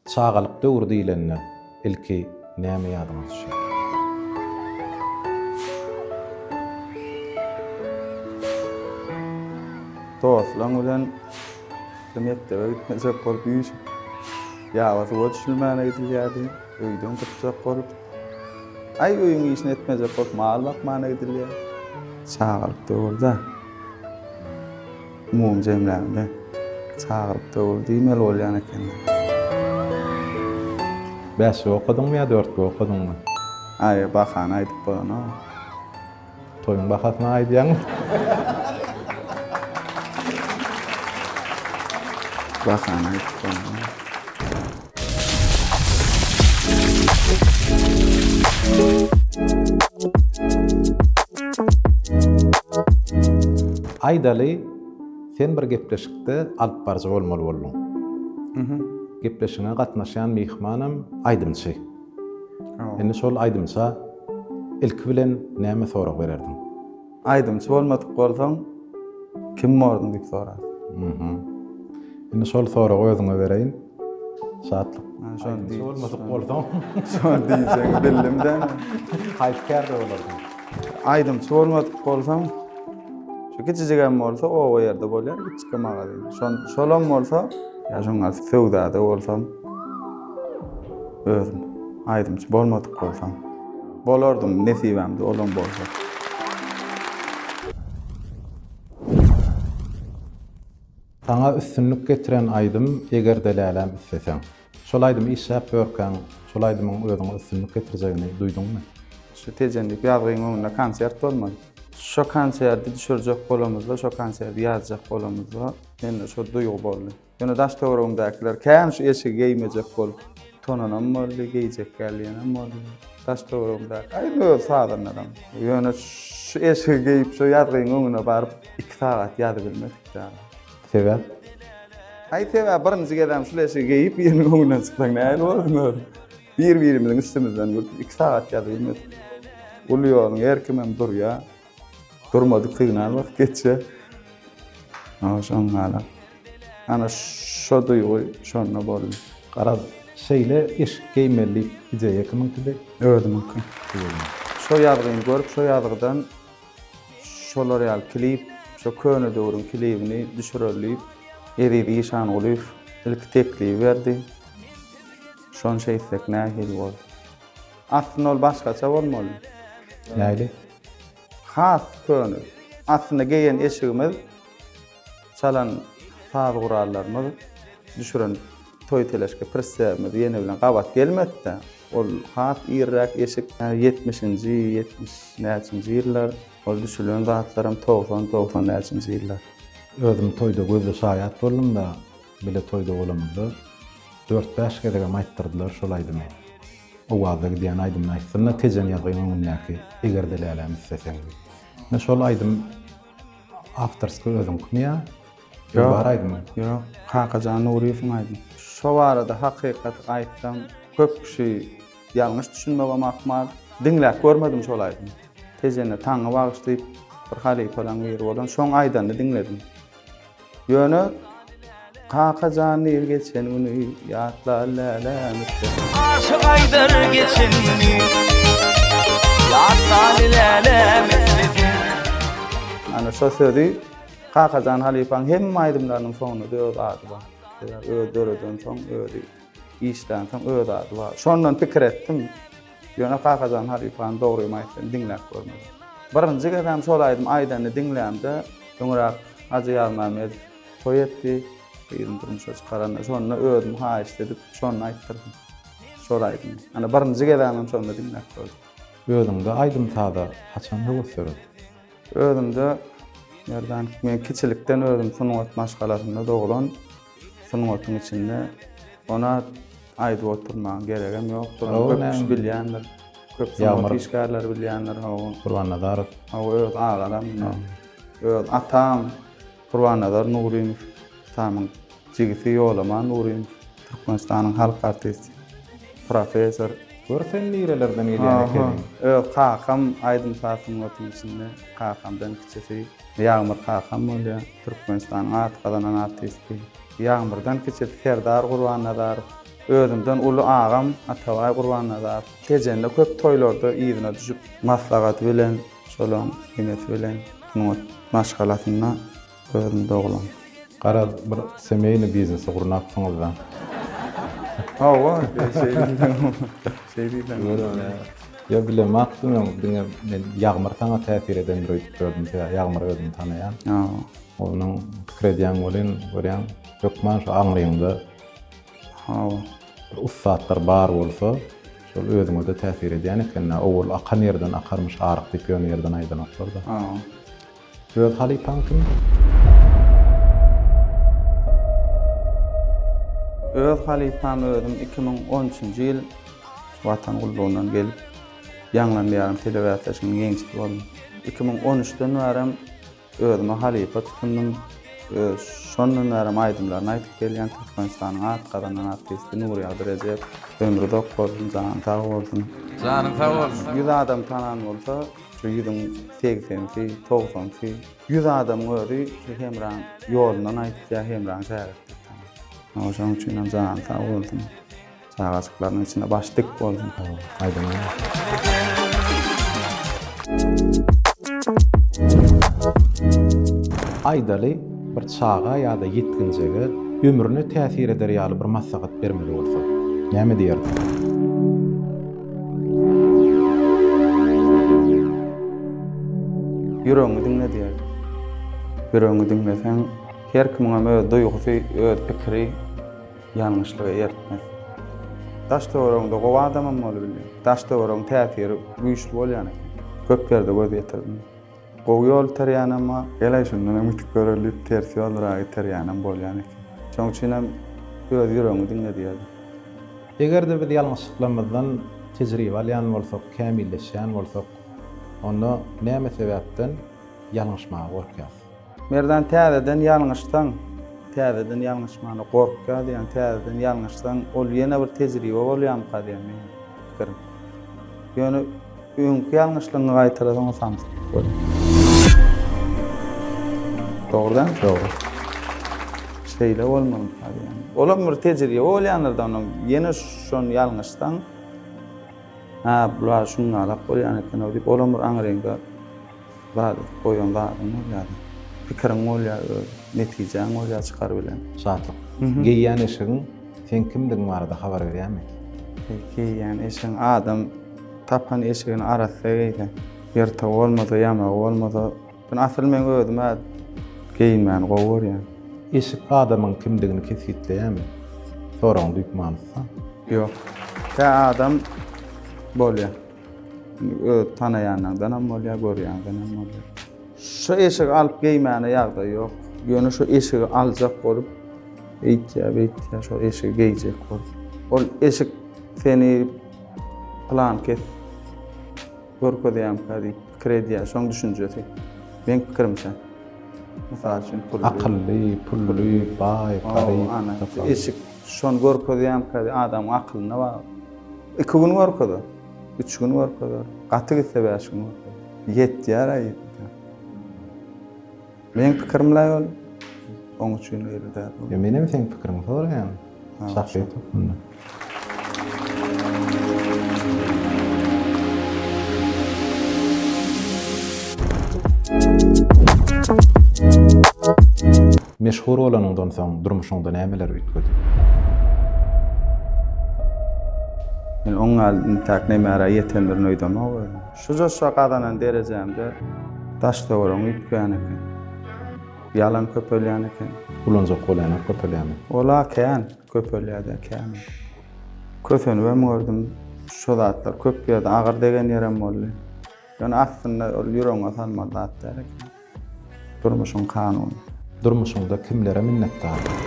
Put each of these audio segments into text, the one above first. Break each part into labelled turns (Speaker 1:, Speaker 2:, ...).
Speaker 1: Çagalyk döwri diýlende ilki näme ýadyňa düşýär? Dostlaryň bilen bir mekdebe gitmejek bolup üýşüp, ýaba suwa düşülmäne gidilýärdi. Öýden gytjak bolup, aý öýüň işini etmejek bolup mal bakmana gidilýär. Çagalyk döwürde. Umumy jemläňde çagyryp döwür diýmeli bolýan ekeni. Bäşlik okadyňmy ýa dörtgi okadyňmy? Aý, bahany aýdyp bolanok. Toýuň bahasyny aýdýaňmy? Bahany aýdyp bolanok. Aýdaly, sen bir gepleşikde alyp baryjy bolmaly bolduň. Mhm. Gepleşigiňe gatnaşýan myhmanam aýdymçy. Indi şol aýdymça ilki bilen näme sorag bererdiň? Aýdymçy bolmadyk bolsaň, kim bordyň diýip sorar. Mhm. Indi şol soragy özüňe bereýin. Şatlyk. Aýdymçy bolmadyk bolsaň, şony diýseň bildim-de. Haýsy kärde bolardyň? Aýdymçy bolmadyk bolsaň, şu kiçijigem bolsa oba ýerde bolýar, kiçijik magazin. Şon, şolam bolsa, ýa şoňa söwdada bolsam, özüm. Aýdymçy bolmadyk bolsam. Bolardym nesibämde olam bolsa. Saňa üstünlik getiren aýdym Egerde lälem isleseň. Şol aýdymy işläp ýörkäň, şol aýdymyň özüňe üstünlik getirjegini duýduňmy? Şu Tejenlik ýazgyň öňünde konsert bolmaly. Şo konserti düşürjek bolamyzda, şo konserti ýazjak bolamyzda mende şo duýgy boldy. Ýöne daş-töweregimdäkiler kän şu eşigi geýmejek bolup, tonanam boldy, geýjek gelýänem boldy. Daş-töweregimdäki, aý, öz sazanlaram. Ýöne şu eşigi geýip, şu ýazgyň öňüne baryp, iki sagat ýazybilmedik däl. Sebäp? Aý, sebäp, birinji gezegem şul eşigi geýip, biriniň öňünden çyksaň nähili bolsun özem? Bir-birimiziň üstümizden gülüp, iki sagat ýazybilmedik. Uly ýoluň her kimem durýar. Durmadyk signal bak geçe. Ana şoň gala. Ana şo duýgy şonda boldy. Garaz, şeýle eşik geýmeli diýip ideýa kimiňkidi? Özümiňki. Şo ýazgyny görüp, şo ýazgydan şolar ýaly klip, şo köne döwrüň klibini düşüreli diýip, Eziz Işangulyýew ilki teklibi berdi. Şony şeýtsek nähili bolar? Aslynda ol başgaça bolmaly. Näli? Has köne. Aslynda geýen eşigimiz, çalan saz gurallarymyz, düşüren toý-teleşke prissemiz ýene bilen gabat gelmedi-de. Ol has irräk eşik. Ýetmişinji, ýetmiş näçinji ýyllar. Ol düşülen zatlaram togsan, togsan näçinji ýyllar. Özüm toýda gözle şaýat boldum-da. Bile toýda bolamyzda dört-bäş gezegem aýtdyrdylar şol aýdymy. Owazda gidýän aýdymyny aýtsyn-da Tejen ýazgyň öňündäki Eger-de läläm isleseň diýip. Ine şol aýdym awtorskoý özüňkimi ýa Ýok. Bar aýdymy? Ýok. Kakajan Nuryýewiň aýdymy. Şo barada hakykaty aýtsam, köp kişi ýalňyş düşünmegem ahmal. Diňläp görmedim şol aýdymy. Tejene Taňňy bagyş diýip bir halypalaň biri bolan şoň aýdanyny diňledim. Ýöne Kaka jan diýip geçen güni ýatla lälem üstüne. Aşyk aýdar geçen güni ýatla lälem üstüne. Ana şo sözi Kakajan halypaň hemme aýdymlarynyň soňunda öz ady bar. Öz döredensoň özi işlänsoň öz ady bar. Şondan pikir etdim. Ýöne Kakajan halypany dogrymy aýtsam diňläp görmedim. Birinji gezem şol aýdymy aýdanyny diňlämde, öňräk Hajy Ýazmämmedow toý etdi, gyzyny durmuşa çykaranda, şonda özüm haýyşt edip, şonda aýtdyrdym şol aýdymy. Ýöne birinji gezemem şonda diňläp gördüm. Özüňde aýdym-saza haçan höwes döredi? Özümde, Merdan, men kiçilikden özüm sungat maşgalasynda doglan. sungatyň içinde ona aýdyp oturmaň geregem ýokdur. Ony köp kişi bilýändir. Köp sungat işgärleri bilýändir. Hawa. Gurbannazarow. Hawa, öz agalam. Öz atam Gurbannazar Nuryýew, atamyň jigisi Ýolaman Nuryýew, Türkmenistanyň halk artisti, professor. Gör sen nirelerden gelýän ekeniň. Öz kakam aýdym-saz sungatynyň içinde, kakamdan kiçisi Ýagmyr kakam bolýar. Türkmenistanyň at gazanan artisti Ýagmyrdan kiçi Serdar Gurbannazarow, özümden uly agam Atabaý Gurbannazarow Tejende köp toýlarda yzyna düşüp, maslahaty bilen şolaň ýeňesi bilen sungat maşgalasynda özüm doglan. Garaz bir semeýny biznesi gurnapsyňyzda. Hawa, şeýdibem, şeýdibem. Ýok bilemakdym ýok diňe men Ýagmyr saňa täsir edendir öýdüp gördüm sebäbi Ýagmyr özümi tanaýan. Onuň pikir edýän welin görýän hökman şu aňryňda bir ussatlar bar bolsa şol özüňede täsir edýän ekendä owal akan ýerden akarmyş aryk diýip ýöne ýerden aýdanoklarda. Öz halypaň kim? Öz halypam özüm iki müň on üçünji ýyl Watan gullugyndan gelip, ýaňlan ýarym telebäsleşiginiň ýeňijisi boldum. Iki müň on üçden bärem özüme halypa tutundym. Öz şondan bärem aýdymlaryny aýdyp gelýän Türkmenistanyň at gazanan artisti Nurýagdy Rejep. Ömri uzak bolsun, jany sag bolsun. Janyň sag bolsun. Ýüz adam tanan bolsa. Şu ýüzüň segsensi, togsansy. Ýüz adamyň özi şu Hemraň ýolundan aýtýar, Hemraň şägirtlik tanap. Şonuň üçinem jany sag bolsun. Çagajyklarynyň içinde başy dik bolsun. Aýdaly, bir çaga ýa-da ýetginjege ömrüne täsir eder ýaly bir maslahat bermeli bolsaň, näme diýerdiň? Ýüregiňi diňle diýerdi. Ýüregiňi diňleseň, her kimiňem öz duýgusy, öz pikiri ýalňyşlyga eltmez. Daş-töweregiňde gowy adamam bolup bilýär. Daş-töweregiň täsiri güýçli bolýan eken. Köp ýerde göz ýetirdim. Gowy ýol iterýän emma gel-aý şundan hem ütüp göreýin diýip ters ýollara iterýänem bolýan eken. Şoň üçinem öz ýüregiňi diňle diýerdim. Eger-de biz ýalňyşlyklarymyzdan tejribe alýan bolsak, kämilleşýän bolsak, onda näme sebäpden ýalňyşmaga gorkýas? Merdan täzeden ýalňyşsaň, täzeden ýalňyşmana gorkýa diýýän, täzeden ýalňyşsaň ol ýene bir tejribe bolýamyka diýýän meniň pikirim. Ýöne öňki ýalňyşlygyňy gaýtala soňa samsyk bol. Dogry däl? Dogry. Şeýle bolmaly hali ýa. Olam bir tejribe bolýanlardan onuň ýene şony ýalňyşsaň, ha bular şuňňalak bolýan eken-ow diýip olam bir aňryňda Zat et, goýan zadyň bolýada. Pikiriň bolýa öz, netijäň bolýa çykar bilen. Şatlyk. Geýýän eşigiň seň kimdigiň barada habar berýärmi? Geýýän eşigiň adam tapan eşigini arassa geýse, ýyrtygy bolmasa, ýamagy bolmasa, ýöne asyl men özüm-ä geýinmäni gowy görýän. Eşik adamyň kimdigini kesgitleýärmi? Soragyň düýp manysy. Ýok. Tä adam bolýa. Öz tanaýanlaňdan hem bolýar, görýäňden hem bolýar. Şu eşigi alyp geýmäne ýagdaý ýok. Ýöne şu eşigi aljak bolup, eýtýä, beýtýä, şu eşigi geýjek bolup. Ol eşik seni plan kes görkezýärmikä diýip pikir edýär, şoň düşünjesi. Meň pikirimçe. Mysal üçin, pully. Akylly, pully, baý, garyp. Eşik Şony görkezýärmika diýip adamyň akylyna bagly. Iki gün görkezer. Üç gün görkezer. Gaty gitse bäş gün görkezer. Ýetýär aý. Meň pikirim laý ol. Oň üçin öýli däl. Ýa menem seň pikiriňi soraýan. Şahsy ýutubynda. Meşhur bolanyňdan soň durmuşyňda nämeler üýtgedi? Men oň ýaly intäk nemära ýetendirin öýdemok özüm. Şu joşa gazanan derejämde daş-töweregim üýtgän eken. Ýalam köpelýän eken. Ulanjak bolýanam köpelýärmi? Ol-a kän köpelýär-de, kän. Kösenibem gördüm. Şu zatlar köp ýerde agyr degen ýerem boldy. Ýöne aslynda ol ýüregiňe salmaly zat däl eken. Durmuşyň kanuny. Durmuşyňda kimlere minnetdardyň?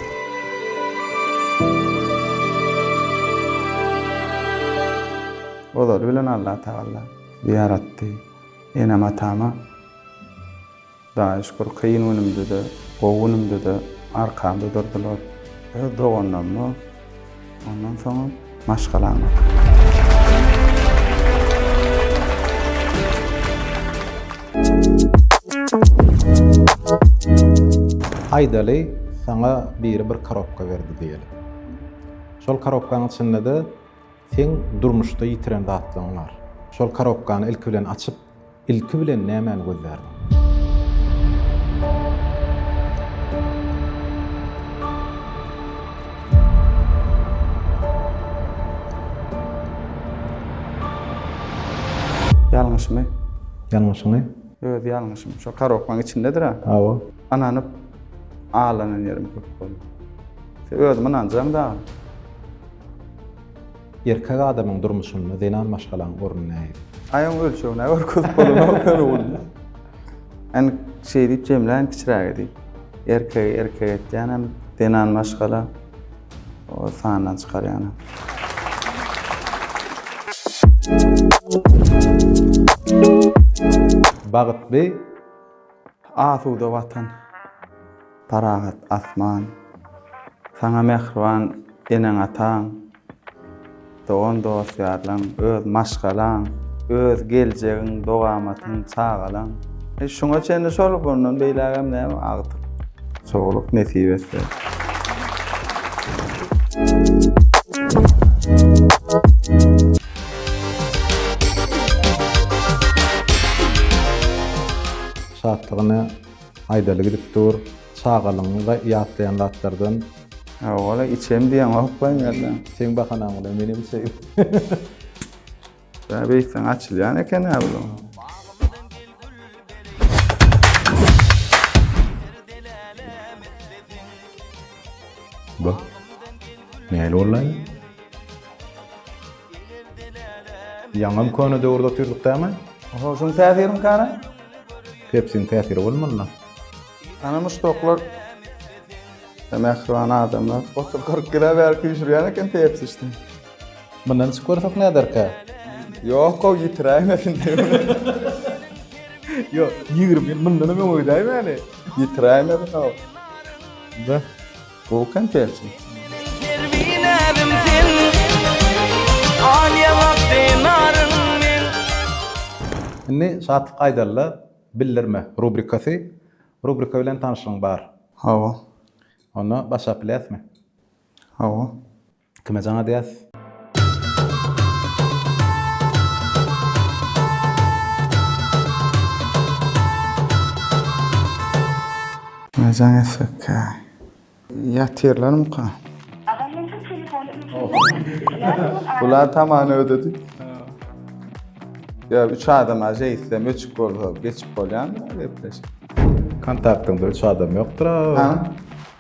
Speaker 1: Ozaly bilen Allatagalla bizi ýaratdy. Enem-atama daýy şükür kyn günümde-de, gowy günümde-de arkamda durdular. Öz doganlaryma. Ondan soňam maşgalaňa. Aýdaly, saňa biri bir korobka berdi diýeli. Şol korobkaň içinde-de seň durmuşda ýitiren zatlaryň bar. Şol korobkany ilki bilen açyp, Ilki bilen nämäni gözlärdiň? Ýalňyşymy. Ýalňyşyňy? Öz ýalňyşym. Şo karobkaň içindedir-ä. Hawa. Ynanyp aglanan ýerim köp boldy. Sen özüňe ynanjaň dagy. Erkek adamyň durmuşynda zenan maşgalaň orny nähili? Aýagyň ölçegine görkezip bolanok ýöne ony. Än şeý diýip jemlän kiçiräge diýip. Erkegi erkek etýänem, zenan maşgala o sandan çykarýanam. Bagytly. Asuda Watan, parahat asman, saňa mähriban eneň-ataň, dogan-dost-ýarlaň, öz maşgalaň, öz geljegiň, dogamatyň, çagalaň. Şuňa çenli şol, bundan beýlägem näme, agtyk. Soglyk nesip etse. Şatlygyny aýdaly gidip dur. Çagalygyňda ýatlaýan zatlardan. Owala içeýin diýeňok we ýa-da. Seň bahanaň bilen menem içeýin. Bä beýtseň açylýan eken-ä bu. Bak, nähili boldy? Ýaňam köne döwürde otyrdyk dämi? Oho, şuň täsirimikäni? Pepsiň täsiri bolmalyna. Ana myş toklar we mähriban adamlar. Otuz kyrk ýyla bäri küýşürýän eken pepsi içdim. Mundan içip görsek näderkä? Ýok gowy ýitiräýmesin diýip. Ýok, ýigrimi ýyl mundanam öňe gidäýmäli. Ýitiräýmesin gowy. Be. Gowy konsertçi. Indi Şatlyk Aýdalla bildirme rubrikasy. Rubrika bilen tanyşlygyň bar. Hawa. Onda başlap biläsmi? Hawa. Kime jaň edýäs? Kime jaň etsekkä? Ýatyrlarmyka? Agam men şu telefony öçürdim. Bular tamany ödedi. Ýa üç adama jeýtsem öçük bolsa geçip bolýamy gepleşik? Kontaktyňda üç adam ýokdur-a.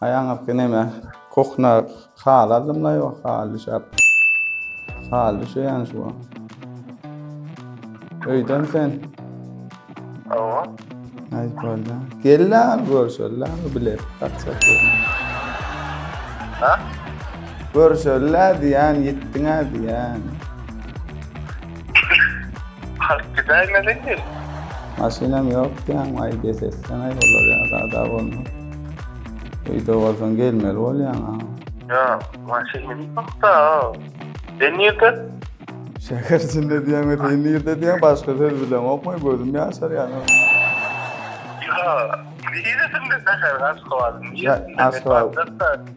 Speaker 1: Aýaňyzky neme kuhna hal aldymla yo hal düşäp hal düşeýän şu öýden sen Awa. Aý bolda. Gella görşella bilet taksa. Ha? Görşella diýän ýetdiňä diýän. Halk gidaýmeli. Maşynam ýok diýän aý besetsen aý olar ýa zada bolma. Öýde bolsaň gelmeli bolýaň ha. Ýa, maşyn münüp bakda. Sen nirde? Şäher içinde diýäňmi, sen nirde diýýäň, başga söz bilemokmy, gözüm ýaşarýar. Ýa, niresinde şäheriň Aşgabadyň niresinde? Aşgabat.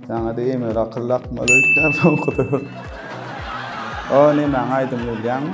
Speaker 1: Saňa-da emir akyl dakmaly öýtýän soňky döwür. O nemäň aýdymy bilýäňmi?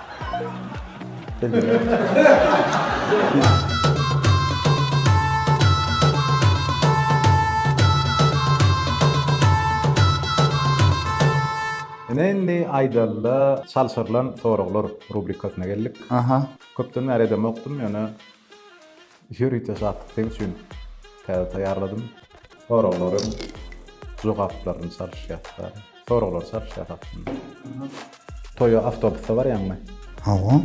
Speaker 1: Ine indi aýdalda çalşyrylan soraglar rubrikasyna geldik. Aha. Köpden bäri edemokdym, ýöne Ýörite şatlyk seň üçin täze taýýarladym. Soraglaryň jogaplaryny çalyşýas da. Soraglar çalyşýas aslynda. Toýa awtobusda barýaňmy? Hawa.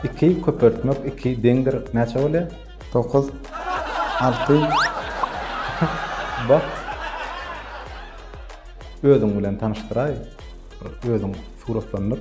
Speaker 1: Iki köpeltmek iki deňdir näçe bolýar? Dokuz. Alty. Bak. Özüň bilen tanyşdyraý. Özüň suratlandyr.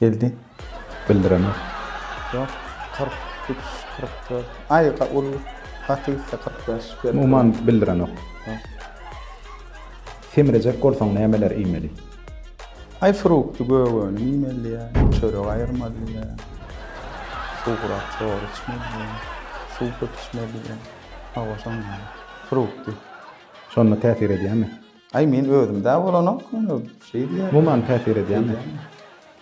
Speaker 1: Geldi. Bildiremer. Ýok, kyrk üç, kyrk dört. Aý, ol gaty gitse kyrk bäş. Umuman bildirenok. Semirejek bolsaň nämeler iýmeli? Aý, fruktly gök önüm iýmelidiýä, çörek aýyrmalydyýä, suwurak çor içmelidiýä, suw köp içmelidiýä. Hawa, şondan. Fruktly. Şonda täsir edýärmi? Aý men özümdä bolanok ony şeý diýýär. Muman täsir edýämi?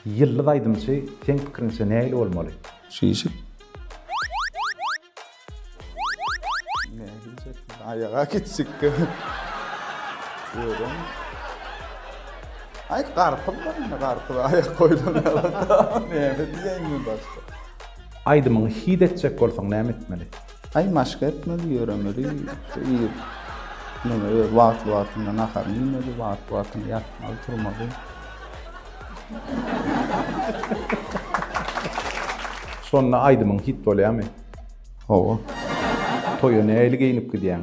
Speaker 1: Ýyldyz aýdymçy seň pikiriňçe nähili bolmaly? Şişik. Nähilja tiz aýaga gitjek. Özem. Aý garpyz bar indi garpyza aýak goýlan ýaly. Näme diýäýin men başga. Aýdymyňy hit etjek bolsaň näme etmeli? Aý maşk etmeli ýöremeli şu ir muny öz wagtly wagtynda naharyny iýmeli wagtly wagtynda ýatmaly turmaly. Şonda aýdymyň hit bolýamy? Hawa. Toýa nähili geýinip gidýäň?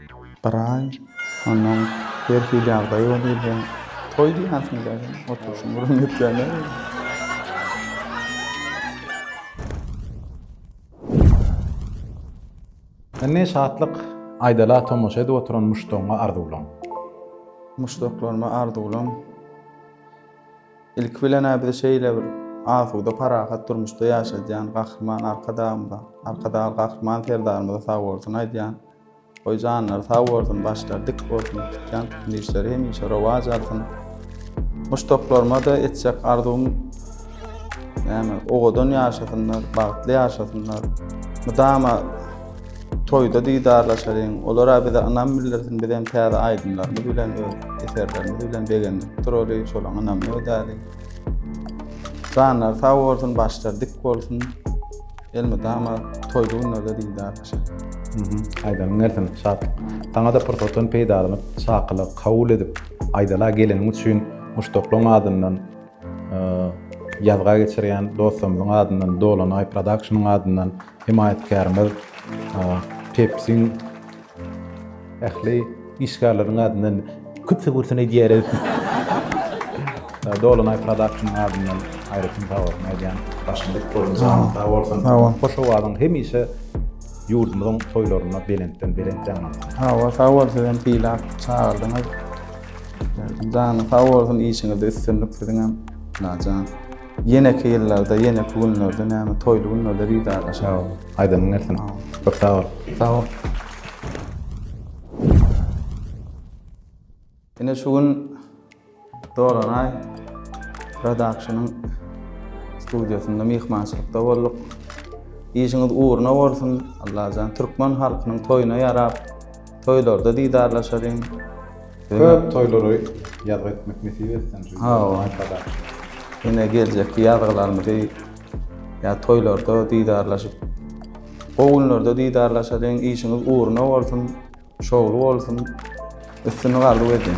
Speaker 1: Bir aý, onnoň her hili ýagdaý bolýardy. Toý diýýärsiň däl, oturşyň bir ümitlenýär. Indi şatlyk aýdala tomaşa edip oturan muşdagyňa arzuwlan. Muşdaklaryma arzuwlan. Ilki bilen-ä bizi şeýle bir asuda, parahat durmuşda ýaşadýan Gahryman Arkadagymyza, Arkadagly Gahryman Serdarymyza sag bolsun aýdýan. Goý janlary sag bolsun başlary dik bolsun tutýan tutgyn işleri hemişe rowaç alsyn. Muşdaklaryma da etjek arzuwym näme owadan ýaşasynlar bagtly ýaşasynlar. Mydama toýda didarlaşalyň olara bize ynam bildirsin biz hem täze aýdymlarymyz bilen öz eserlerimiz bilen begendirip duraly şolaň ynamyny ödäli. Janlary sag bolsun başlary dik bolsun. Elmydama toýly günlerde didarlaşa. Aýdanyň gelsin, Şatlyk. Saňa-da pursatdan peýdalanyp, çakylygy kabul edip, Aýdala geleniň üçin muşdaklaryň adyndan, ýazga geçirýän dostlarymyzyň adyndan, Dolanaý Production-yň adyndan hemaýatkärimiz Pepsi-iň Ähli işgärleriň adyndan küpsügürsini edýäris. Dolunay Production adyndan aýratyn sag bolsun aýdýan. Başymyz bolsun, janyň sag bolsun. Sag bol. Hoş owazyň hemişe ýurdumyzyň toýlarynda belentden belent ýaňlansyn. Hawa, sag bol siz hem sylag çagyrdyňyz. Janyň sag bolsun, işiňizde üstünlik siziňem. Lajan. Ýeneki ýyllarda, ýeneki günlerde näme toýly günlerde didarlaşarys. Sag bol. Aýdymyň gelsin. Köp sag bol. Sag bol. Ine şu gün Dolanaý Production-yň studiýasynda myhmançylykda bolduk. Işiňiz ugruna bolsun, Allajan, türkmen halkynyň toýuna ýarap, Toýlarda didarlaşalyň. Köp toýlary ýazgy etmek nesip etsin. Hawa. Ine geljekki ýazgylarymyzy ýa toýlarda didarlaşyp gowy günlerde didarlaşalyň. Işiňiz ugruna bolsun, şowly bolsun. Üstünlik arzuw edýän.